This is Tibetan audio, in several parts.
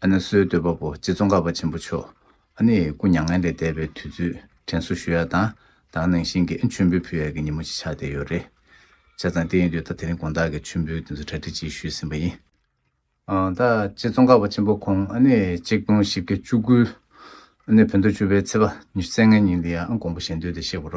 ཨ་ནེ་སོའི་འདོད་པ་པོ་རྗེ་ཙོང་ཁ་པ་ཆེན་པོ་མཆོག་ཨ་ནེ་ཡི་སྐུ་མྱ་ངན་ལས་འདས་པའི་དུས་ཚོད་དྲན་གསོ་ཞུ་ཡ་དང་དང་ནང་བཞིན་གྱི་མཆོད་འབུལ་ཕུལ་ཡ་གྱི་ཉིན་མོ་ཅིག་ཆགས་བསྡད་ཡོད་རེད། བྱས་ཙང་དེ་ཡིན་དུས་ད་དེ་རིང་དགོངས་དག་གི་མཆོད་འབུལ་དེ་ཚོ་གྲ་སྒྲིག་ཅིག་ཞུས་ཟིན་པ་ཡིན། ད་རྗེ་ཙོང་ཁ་པ་ཆེན་པོ་ཁོང་ཨ་ནེ་གཅིག་སྟོང་བཞི་བརྒྱ་བཅུ་དགུའི་ཨ་ནེ་བོད་མདོ་བཅུ་པའི་ཚེས་པ་ཉི་ཤུ་ཚེས་ལྔའི་ཉིན་དེ་ཡང་དགོངས་པ་གཞན་དོན་དེ་གཤེགས་པ་ར་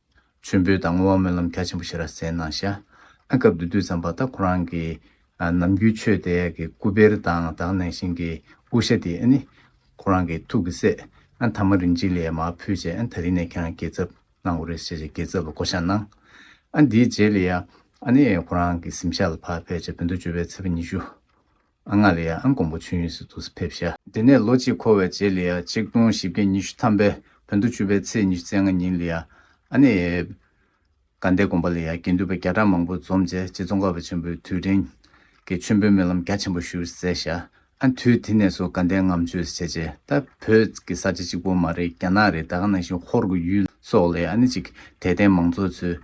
མཆོད་འབུལ་དང་བསྔོ་བ་སྨོན་ལམ་རྒྱ་ཆེན་པོ་ཞེས་ར་བཟི་གནང་ཞྭ་ཨ་སྐབས་འདི་དུས་ཙམ་པ་ད་ཁོ་རང་གི་ནམ་རྒྱུན་ཆོས་དད་ཀྱི་སྐུ་བེར་དང་དག་གནང་བཞིན་གྱི་དབུ་ཞྭ་དེ་ནི་ཁོ་རང་གི་ཐུགས་ཀྱི་སྲས་ཐ་མ་རིན་ཆེན་ལས་མ་ཕུལ་ཅེས་ད་རིང་ནས་ཁྱེད་རང་གྱེས་ཚབ་གནང་དགོས་རེད་ཞེས་ཞེས་གྱེས་ཚབ་ལ་བསྐོ་བཞག་གནང། ཨ་འདིའི་རྗེས་ལ་ཡ་ཨ་ནི་ཁོ་རང་གི་གཟིམ་ཤག་ལ་ཕབ་ཕེབས་བྱས་བོད་མདོ་ཅོ་བའི་ཚེས་པ་ཉི་ཤུ། ཨ་ངག་ལི་ཡ་ཨན་ཀོང་པོ་ཆུན་ཡུལ་སི་ཏུ་སི་ཕེབས་ཤ། དེ་ནས་ལོ་གཅིག་འཁོར་བའི་རྗེས་ལི་ཡ་ཆིག་སྟོང་བཞི་བརྒྱ་ཉི་ཤུ་ཐམ་པའི་བོད་དུ་བཅུ་པའི་ཚེས་ཉི་ཤུ་རྩེ་ལྔ་ཉིན་ལི་ཡ་ཨ་ནེ་ཡབ། དགའ་ཟླའི་དགོན་པ་ལི་ཡ་དགེ་འདུན་པ་བརྒྱ་ཕྲག་མང་པོ་འཛོམས་རྗེས་རྗེ་ཙོང་ཁ་བ་ཆེན་པོའི་དུས་དྲན་གྱི་མཆོད་འབུལ་སྨོན་ལམ་རྒྱ་ཆེན་པོ་བཞུགས་སུ་སྩལ་ཤ། ཨན་དུས་དེ་ནས་བཟུང་དགའ་ཟླའི་ངམ་མཆོད་བྱས་རྗེས་ད་བོད་ཀྱི་ས་ཆ་གཅིག་པོ་མ་རེད་རྒྱ་ནག་རེད་ད་ག་ནང་བཞིན་ཧོར་གྱི་ཡུལ་སོགས་ལི་ཡ་ཨ་ནེ་གཅིག་དད་ལྡན་མང་ཚོགས་ཚོས་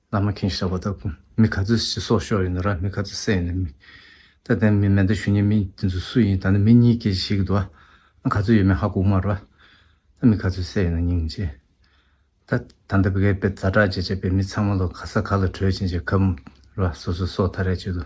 ལ་མ་ཁེངས་ཞེས་བྱ་བ་ལྟར་གོ། མི་ག་ཚོད་ཞེས་སོགས་ཤོ་ཡིན་ནོ་ར་མི་ག་ཚོད་སེ་ཡིན་ནོ་མི། ད་དེ་མི་མེད་ད་ཞུ་ཉེ་མི་དེ་ཚོ་སུ་ཡིན་ད་ནི་མི་གཉིས་སྐད་ཅིག་ཞིག་གི་འདུག་ཨ། ག་ཚོད་ཡོད་མེད་ཧ་གོ་མ་ར། ད་མི་ག་ཚོད་སེ་ཡིན་ནོ་སྙིང་རྗེ། ད་ད་འདི་བགད་པས་ཛ་དྲག་ཅེས་བྱས་པས་མི་ཚང་མ་ལོ་ག་ས་ག་ལ་བྲོས་ཅིང་ཅེས་གབ། ར་སོ་སོས་སོ་ཐ་རས་བྱེད་དོ།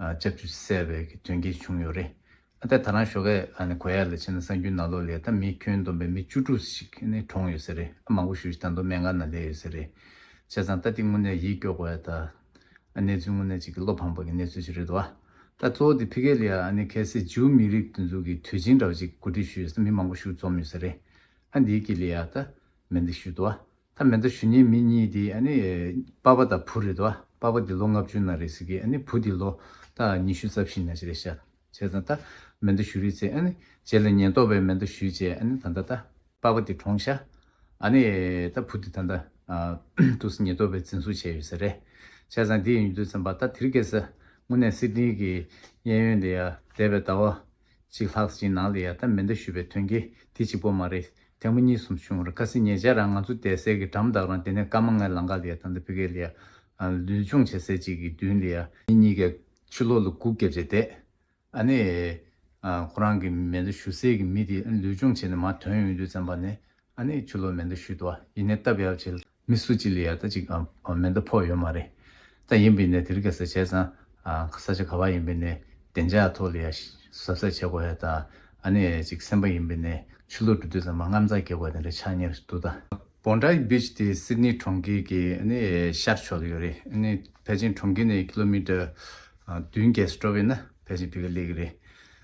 ལྕགས་ཀྱུ་བསལ་བའི་གི་དོན་གྱིས་བྱུང་ཡོད་རེད། ཨ་ཐ་ད་རང་ཞོ་ཀའི་གོ་ཡ་ལ་ཕྱིན་ན་སང་རྒྱུ་ན་ལོ་ལས་ད་མི་ཁྱོན་བསྡོམས་པའི་མི་བཅུ་དྲུག་ཞིག་ནི་གྲོངས་ཡོད་ཟེར་རེད་ཨ་མང་པོ་ཞུ་ཞིག་ད་མདོ་སྨད་འགག་ན་ལས་ཡོད་ཟེར་རེད། བྱས་ཙང་ད་འདི་དངོས་གནས་ཡིད་སྐྱོ་དགོས་ཡ་ད། ཨ་གནས་ཚུལ་དངོས་གནས་ཅིག་གི་བློ་ཕངས་པ་གི་གནས་ཚུལ་ཞིག་རེད་དོ་ཨ། ད་གཙོ་བོ་འདི་ཕི་གེ་ལི་ཡ་ཨ་ནི་གྷལ་སི་ཇུའུ་མི་རིགས་འདུ་འཛུགས་གི་དུས་ཆེན་འདྲ་བ་ཅིག་གི་གོ་སྒྲིག་ཞུ་ཡོད་ས་མི་མང་པོ་ཞུགས་འཛོམས་ཡོད་ཟེར་རེད་ཨ་འདིའི་གི་ལི་ཡ་ད་མེད་འདི་ཞུས་དོ་ཨ། ད་མེ་མདའ་ཞུ་ཉེན་མི་གཉིས་དེ་པ་པ་དང་བུ་རེད་ད་པ་པ་དེ་ལོ་ལྔ་བཅུ་ན་རེད་ཟེར་གི་བུ་དེ་ལོ་ད་ཉི་ཤུ་རྩ་བཞི་ན་ཅི་རེད་ཤ་བྱས་ཙང་ད་མེ་མདའ་ཞུ་རེད་ཚེ་རྗེས་ལ་ཉེན་རྟོག་པས་མེ་མདའ་ཞུས་བྱས་ད་ད་ད་པ་པ་དེ་གྲོངས་ཤ་ད་བུ་དེ་ད་ད་ཏུ་སི་ཉེ་རྟོག་པས་འཛིན་བཟུང་བྱས་ཡོད་ཟེར་རེད་བྱས་ཙང་དེ་ཡིན་དུས་ཚེ་འབའ་ད་དེར་སྐད་ཟ་དངུ་ནས་སི་ཏིང་གི་གཡས་གཡོན་ལས་ཡ་དད་པའི་ད་བ་གཅིག་ལྷག་གཅིག་ནང་ལ་ཡལ་ཐབས་མེད་འདུག་ཞུས་པའི་དོན་གྱིས་དེ་གཅིག་པོ་མ་རེད་དེ་མོ་གཉིས་གསུམ་བྱུང་རེད་ཁ་སེ་ཉེ་ཆར་རང་ང་ཚོ་དད་སེར་གྱི་གྲམ་བདག་རང་དེ་ནས་སྐར་མ་ལྔའི་ལང་ཀ་ལ་ཡལ་ཐང་དུ་ཕི་ཀའི་ལི་ཡ། ལུས་སྦྱོང་བྱེད་སའི་གཅིག་གི་མདུན་ལ་ཡལ། མི་གཉིས་ཀས་ཕྱི་ལོག་ལ་སྒུག་བརྒྱབ་རྗེས་དེད་ཨ་ནས། ཁོ་རང་གི་མེ་མདའ་གཞུ་སའི་གི་མི་དེ་ལུས་སྦྱོང་བྱེད་ནས་མར་དོན་ཡོང་དུས་བཙན་པ་ནས་ཨ་ནས་ཕྱི་ལོག་མེ་མདའ་གཞུས་འདུག་ཡིན་ནས་སྟབས་ཡག་བྱས། མི་སུ་གཅིག་ལ་ཡར་ལྟ་གཅིག་གམ་མེ་མདའ་ཕོག་ཡོད་མ་རེད་ད། ཡིན་པའི་ནས་དེ་རིགས་ག་ས་བྱས་ཙང་ས་ཆ་ག་བ་ཡིན་པའི་ནས་བདེ་འཇགས་ཐོག་ལ་ཡར་ཟབ་གསལ་བྱེད་དགོས་ཡ་ད། ཨ་ནེ་གཅིག་སེམས་པ་ཡིན་པའི་ནས་ཆུ་ལོག་འགྲོ་དུས་ཙང་མ་རྔམ་ཙང་གེགས་བ་དེ་འདྲ་ཆགས་ཉེར་འདུག་ད། Bondi Beach དེ་སིད་ནི་གྲོང་ཁྱེར་གྱི་ཤར་ཕྱོགས་ལ་ཡོད་རེད། བྷེ་ཅིན་གྲོང་ཁྱེར་ནས་ཀི་ལོ་མི་ཏར་བདུན་བརྒྱད་སུ་འགྲོ་བས་ན་བྷེ་ཅིན་བྷི་ཀ་ལེགས་རེད།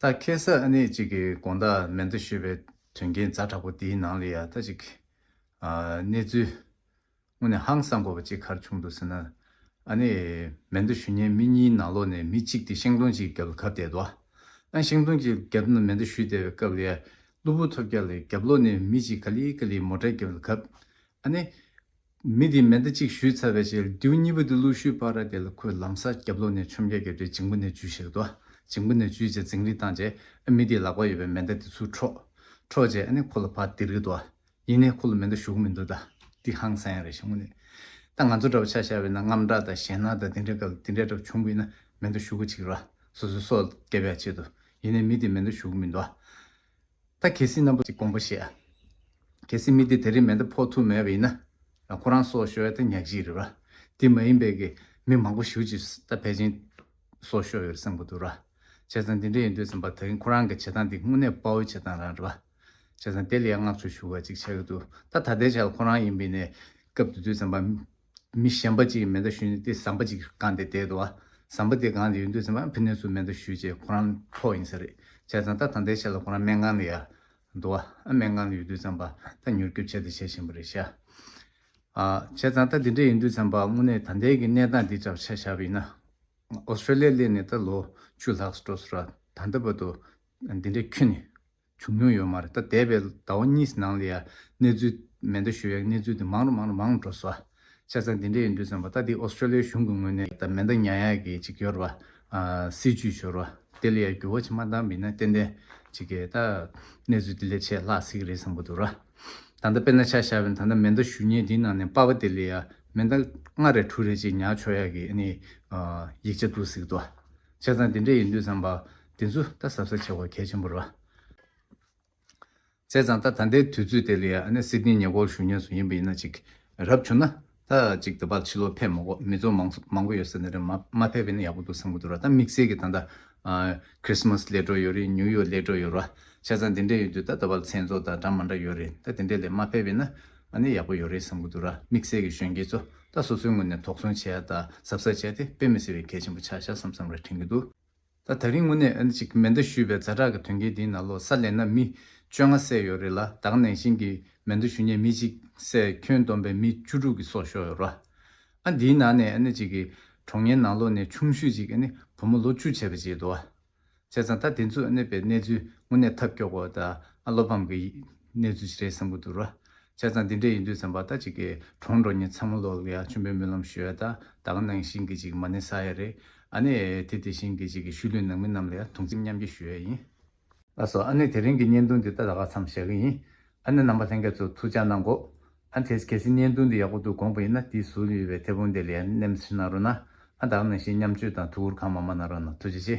ད་ཁེ་སི་ཨ་ནེ་གཅིག་གི་དགོངས་དག་མེད་འདུག་ཞུས་པའི་དོན་རྐྱེན་རྫ་དྲག་པོ་འདིའི་ནང་ལ་ཡང་ད་ཅིག་གནས་ཚུལ་དངོས་ནས་ཧང་སང་དགོས་པ་ཅིག་གར་བྱུང་འདུག་ཟེར་ན། ཨ་ནེ། མེད་འདུག་ཞུ་ཉན་མི་གཉིས་ནང་ལོགས་ནས་མི་གཅིག་དེ་ཤིང་སྡོང་གཅིག་རྒྱབ་ལ་གབ་བསྡད་འདུག་ཨང་ཤིང་སྡོང་གཅིག་རྒྱབ་ན་མེད་འདུག་ཞུས་བསྡད་པའི་སྐབས་ལ་ཡང་གློ་བུར་ཐོབ་རྒྱ་ལ་རྒྱབ་ལོགས་ནས་མི་གཅིག་ག་ལི་ག་ལི་མོ་ཏྲ་རྒྱབ་ལ་གབ། ཨ་ནེ། མི་དེས་མེ་མདའ་གཅིག་གཞུས་ཚར་བའི་ཕྱིར་རྡེའུ་གཉིས་པོ་དེ་གླུ་ཤུལ་ཕ་ར་དེ་ལ་ཁོས་ལམ་སར་རྒྱབ་ལོགས་ནས་ཆོམ་རྒྱག་གི་རེད་འཇིང་པོ་ནས་འཇུས་ཞེས་དོ། འཇིང་པོ་ནས་འཇུས་རྗེས་འཛིང་རིས་བཏང་རྗེས་ཨ་མི་དེའི་ལག་པར་ཡོད་པའི་མེ་མདའ་དེ་ཚུར་འཕྲོག། འཕྲོག་རྗེས་ཨ་ནི་ཁོ་ལ་ཕར་དིར་གི་འདུག་ཨ་ཡིན་ནས་ཁོ་ལ་མེ་མདའ་གཞུ་གི་མི་འདུག་ད་འདི་ཧང་སང་ཡང་རེད་ཞེས་ངུ་ནས། ད་ང་ཚོ་འདྲ་བ་ཆ་ཤ་བའི་ནང་རྔམ་སྐྲག་དང་ཞེད་སྣང་དང་དེ་འདྲའི་སྐབས་ལ་དེ་འདྲའི་གྲབས་ཆུང་པོ་ཡིན་ན་མེ་མདའ་གཞུ་ག་ཅིག་ར་སོ་སོའི་སྲོག་སྐྱབས་ཡ་བྱེད་དོ། ཡིན་ནས་མི་དེས་མེ་མདའ་གཞུ་གི་མི་འདུག་ཨ། ད་གལ་སྲིད་རྣམ་པ་ཅིག་དགོངས་པ་བཞེས། གལ་སྲིད་མི་དེ་དེ་རིང་མེ་མདའ་ཕོག་ཐུབ་མེད་པ་ཡིན་ན། ཁོ་རང་སོགས་ཤོ་ཡ་ད་ཉག་གཅིག་རེད་བ། དེ་མ་ཡིན་པའི་གི་མི་མང་པོ་ཞུ་ཅིག་ད་ཕལ་ཆེན། སོགས་ཤོ་ཡོད་སེམས་གོ་འདུག་ར། བྱས་ཙང་འདི་འདྲ་ཡིན་འདོད་ཙམ་བ་ད་གིན་ཁོ་རང་གི་བྱེད་སྟངས་འདི་དངོས་གནས་དཔའ་བོའི་བྱེད་སྟངས་རང་རེད་བ། བྱས་ཙང་དེ་ལ་ཡང་བསྔགས་བརྗོད་ཞུ་བ་ཅིག་བྱས་གི་འདུག་ད་ད་ལྟའི་ཆར་ཁོ་རང་ཡིན་པའི་ནས་སྐབས་འདི་འདོད་ཙམ་བ། མི་གཞན་པ་གཅིག་གིས་མེ་མདའ་བཞུས་ནས་དེ་ཟམ་པ་གཅིག་གི་སྒང་དེ་དེད་དོ། ཟམ་པ་དེ་སྒང་དེ་ཡུན་དུ་ཟིན་པ་ཕི་ནས་སུ་མེ་མདའ་བཞུས་བྱས་ཁོ་རང་ཁྲོ་ཡིན་ས་རེད་བྱས་ཙང་ད་ད་ལྟའི་ཆ་ལ་ཁོ་རང་སྨན་ཁང་དེ་ཡར་དུ་བ་ཨ་སྨན་ཁང་དེ་ཡོད་དུས་ཟམ་པ་ད་མྱུར་སྐྱོབ་བྱས་ད་བྱས་བཞིན་པ་རེད་ཤ་ཨ། བྱས་ཙང་ད་དེ་འདྲ་ཡིན་དུས་ཟམ་པ་དངོས་གནས་ད་ལྟའི་གི་གནས་སྟངས་འདི་འདྲ་བ་ཆ་བཞག་པ་ཡིན་ན། ཨོ་སི་ཏྲེ་ལི་ཡའི་གླེ་ནས་ད་ལོ་བཅུ་ལྷག་སུ་འགྲོ་སུ་ར་ད་འདི་བ་དུ་འདི་འདྲའི་ཁྱུ་ནི། བྱུང་མྱོང་ཡོད་མ་རེད་ད་འདས་པའི་ཟླ་བ་གཉིས་ནང་ལ་ཡང་གནས་ཚུལ་མེ་མདའ་ཞུ་ཡག་གནས་ཚུལ་དེ་མང་རུ་མང་རུ་མང་འགྲོ་སོ། ཆ་ཚང་འདི་འདྲས་ཡིན་དུས་ཙམ་པ་ད་འདི Australia གཞུང་གི་ངོས་ནས་ད་མེ་མདའ་ཉག་ཡག་གི་ཅིག་ཡོད་རེད་པ། སྲིད་ཇུས་ཞུ་རུ་བ་དེ་ལ་ཡང་འགྱུར་བ་ཆེ་མ་གཏང་མིན་ན་ཏན་ཏན་ཅིག་གི་ད་གནས་ཚུལ་དེ་ལས་ཆེས་ལྷག་སྲིད་ཀྱི་རེད་བསམ་གི་འདུག་ར། ད་ལྟ་དཔེར་ན་ཆ་བཞག་པའི་ད་ལྟ་མེ་མདའ་ཞུ་ཉེན་འདིའི་ནང་ནས་པ་བ་དེ་ལ་ཡང་མེ་མདའ་ལྔ་རེ་དྲུག་རེ་ཅིག་ཉག་ཆོག་ཡག་གི་ཨ་ནི། ཡིག་ཆ་འདུག་སྲིད་ཀྱི་འདུག་བ། བྱས་ཙང་དེ་འདྲས་ཡིན་དུས་བསམ་པ། དེ་ཚོ་ད་གཟབ་ས་ཆེ་བ་གལ་ཆེན་པོ་རེད། བྱས་ཙང་ད་ད་ལྟའི་དུས་ཚོད་དེ་ལས་ཨ་ནེ་སི་ཏིའི་ཉེ་སྐོར་བཞུགས་ཉེ་སུ་ཡིན་པ་ཡིན་ན་ཅིག་རབ་བྱུང་ན་ད་ཅིག་ད་བར་ཕྱི་ལོག་ཕེབས་མ་གོ་མི་ཚོ་མང་སུ་མང་པོ་ཡོད་ས་ནས་རེད་མ་ཕེབས་པས་ན་ཡག་པོ་འདུག་བསམ་གི་འདུག་ར་ད་དམིགས་བསལ་གི་ད་ད Christmas སླེ་འགྲོ་ཡོད་རེད་ནིའུ་ཡོག་སླེ་འགྲོ་ཡོད་ར་བྱས་ཙང་དེ་འདྲས་ཡོད་དུས་ད་ད་བར་མཚན་ཚོགས་དང་འདྲ་མ་འདྲ་ཡོད་རེད་ད་དེ་འདྲས་ལས་མ་ཕེབས་པས་ན་ཨ་ནི་ཡག་པོ་ཡོད་རེད་བསམ་གྱི་འདུག་ར་དམིགས་བསལ་གྱི་གཞོན་སྐྱེས་ཚོ་ད་སོ་སོའི་ངོས་ནས་དོགས་ཟོན་བྱས་ཡ་ད་གཟབ་གཟབ་བྱས་ཏེ་དཔེ་མི་སེལ་བའི་གལ་ཆེན་པོ་ཆགས་ཤག་བསམ་བསམ་ར་དྲན་གྱི་འདུག་ད་ད་རིང་དངོས་གནས་ཅིག་མེ་མདའ་གཞུས་པའི་རྫ་དྲག་གི་དོན་རྐྱེན་དེའི་ནང་ལོ་སར་ལེན་ན་མི་བཅོ་ལྔ་བསད་ཡོད་རེད་ལ་དྭགས་ནང་བཞིན་གྱི་མེ་མདའ་གཞུ་ཉེ་མི་གཅིག་བསད་ཁྱོན་བསྡོམས་པའི་མི་བཅུ་དྲུག་གི་སྲོག་ཤོར་ཡོད་ར་ཨ་འདིའི་ནང་ནས་ཨ་ནི་ཅིག་གི་གྲོང་ངའི་ནང་ལོ་ནས་ཆུང་ཤོས་ཅིག་ཨ་ནི་བུ་མོ་ལོ་བཅུ་བྱས་པ་བྱས་འདུག་ཨ། བྱས་ཙང་ད་དེ་ཚོས་གནས་པའི་གནས་ཚུལ་དངོས་གནས་ཐབས་སྐྱོ་པོ་དང་བློ་ཕམ་གྱི་གནས་ཚུལ་ཞིག་རེད་བསམ་གི་འདུག་ར། བྱས་ཙང་དེ་འདྲས་ཡིན་དུས་བསམ་པ་ད་ཅིག་གི་གྲོང་འགྲོ་ཉིན་ཚང་མ་ལོག་ལ་ཡ་ཆུང་པའི་སྨོན་ལམ་ཞུ་ཡ་ད་ད་ག་ནང་བཞིན་གྱི་ཅིག་མ་ནི་ས་ཡ་རེད་ཨ་ནི་དེ་དེ་བཞིན་གྱི་ཅིག་གི་ཤུལ་ལུས་ནང་མི་རྣམས་ལ་ཡ་དུང་སེམས་མཉམ་སྐྱེ་ཞུ་ཡ་ཡིན། ལགས་སོ་ཨ་ནི་དེ་རིང་གི་བརྙན་ཐུང་འདི་ད་ད་ག་ཚམ་བཞག་གི་ཡིན་ཨ་ནི་རྣམ་པ་ལྷན་རྒྱས་ཚོ་ཐུགས་ཅག་གནང་གོ་ཨ་ཐེས་གལ་སྲིད་བརྙན་ཐུང་འདི་ཡག་པོ་འདུག་དགོངས་པ་ཡིན་ན་དེའི་ཟུར་ཡོད་པའི་མཐེ་བོང་དེ་ལས་ནེམ་ཤི་གནང་རོགས་གནང་ཨ་དང་ནང་བཞིན་མཉམ་སྤྱོད་དང་ཐུགས་འཁུར་གང་མང་མང་གནང་རོགས་གནང་ཐུགས་རྗེ་ཆེ།